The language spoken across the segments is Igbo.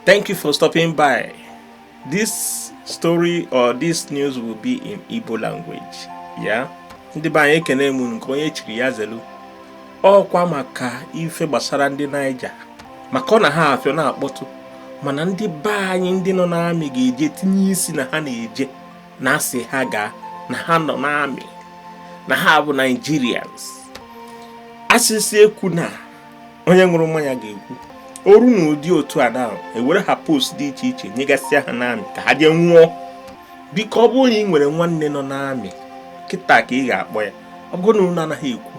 Thank you for stopping by. This story or this news will be in Igbo language. Yeah? Ndị be anyị ekene m unu nke onye chiri ya zelu ọkwa maka ife gbasara ndị Niger maka ọ na ha afịọ na-akpọtụ mana ndị be anyị ndị nọ n'amị ga-eje tinye isi na ha na-eje na-asị ha gaa na ha nọ n'amị na ha bụ Nigerians a sị sị ekwuna onye ṅụrụ mmanya ga-ekwu o ru n'ụdị otu a na ewere ha post dị iche iche nyegasịa ha n'amị ka ha jee nwụọ biko ọ bụrụ na ị nwere nwanne nọ n'amị kịta ka ị ga-akpọ ya ọ bụrụ na unu anaghị ekwu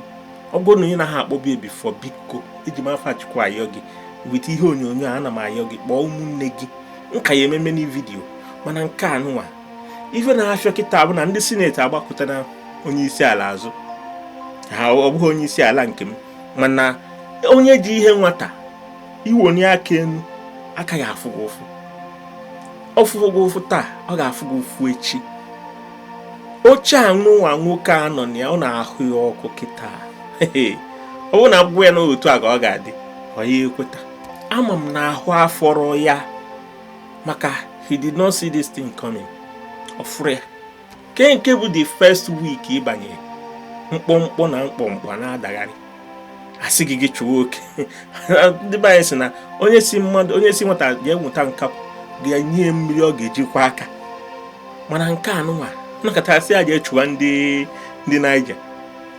ọ bụrụ na ị naghị akpọbu ya before biko eji m afa Chukwu ayọ gị with ihe onyonyo a ana m ayọ gị kpọọ ụmụnne gị nke a ya ememe na video mana nke anụnwa ife na-afịọ kịta bụ na ndị Senate agbakụtara onye isi ala azụ ha ọ bụghị onye isi ala nke m mana onye ji ihe nwata i wonie aka enu aka ya-afụ gị ụfụ ọ fụrọ gị ụfụ taa ọ ga-afụ gị ụfụ echi oche anụnwa nwoke a nọ na ya ọ na-ahụ ya ọkụ kịta ọ bụrụ na a gwago ya na otu a ka ọ ga-adị ọ ya ekweta ama m na ahụ afọrọ ya maka he did not see this thing coming ọ fụrọ ya ke nke bụ the first week ị banye mkpọmkpọ na mkpọmkpọ na-adagharị a sị gị gị chụwa oke ndị be anyị sị na onye sị mmadụ onye sị nwata gaa nweta nkapị ga-enye mmiri ọ ga-eji kwọ aka mana nke anụnwa na kịta a sị ya jee chụwa ndị ndị Niger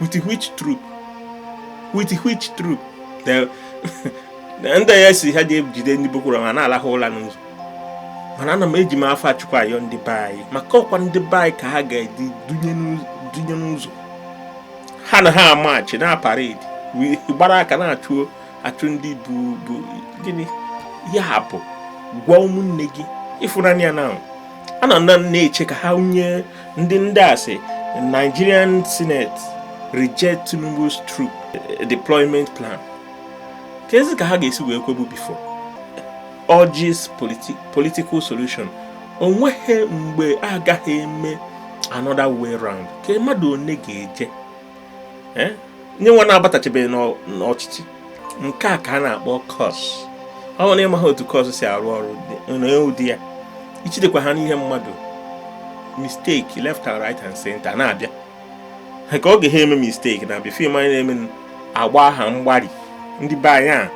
with which troop with which troop ndị a sị ha jee jide ndị Boko Haram na-alahụ ụla n'ụzọ mana ana m eji m afa Chukwu ayọ ndị be anyị maka ọkwa ndị be anyị ka ha ga-edu dunye n'ụzọ ha na ha amachi na parade gbara aka na-achụ achụ ndị bụ bụ gịnị ya bụ gwa ụmụnne gị ịfụnanya ya na ana na na-eche ka ha nye ndị ndị a sị Nigerian Senate reject Tinubu's troop deployment plan kezi ka ha ga-esi wee kwebu before urges politi political solution o nweghị mgbe a gaghị eme another way round ka mmadụ one ga-eje eh? nye nwa na-abatachabeghị n'ọchịchị nke a ka a na-akpọ curse ọ bụrụ na ị maghị otu curse si arụ ọrụ n'ụdị ya i jidekwa aka n'ihe mmadụ mistake left and right and center na-abịa ka ọ ghara ime mistake na before ị ma ihe na-eme agbaa ha mgbari ndị be anyị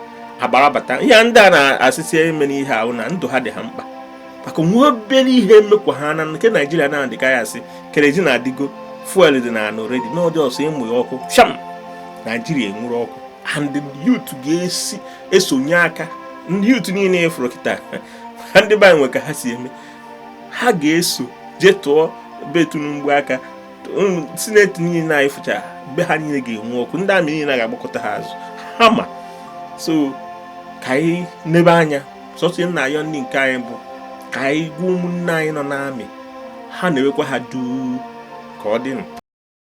agbarabata ihe ndị a na-asịsị eme n'ihe ahụ na ndụ ha dị ha mkpa maka nwa obere ihe mekwaa na nke naijiria na adịka ya asị kerosene adịgo fuel dị na-anọ ready na ọ dị sọọ ịmụ ya ọkụ sham naijiria enwuru ọkụ and youth ga-esi esonye aka ndị youth niile ị fụrụ kịta ndị be anyị nwe ka ha si eme ha ga-eso jee tụọ be Tinubu aka senate niile anyị fụchara be ha niile ga-enwu ọkụ ndị army niile ga-agbakụta ha azụ ha ma so ka anyị nebe anya sọsọ ihe m na-ayọ ndị nke anyị bụ ka anyị gwa ụmụnne anyị nọ n'army ha na-ewekwa ha duu ka ọ dị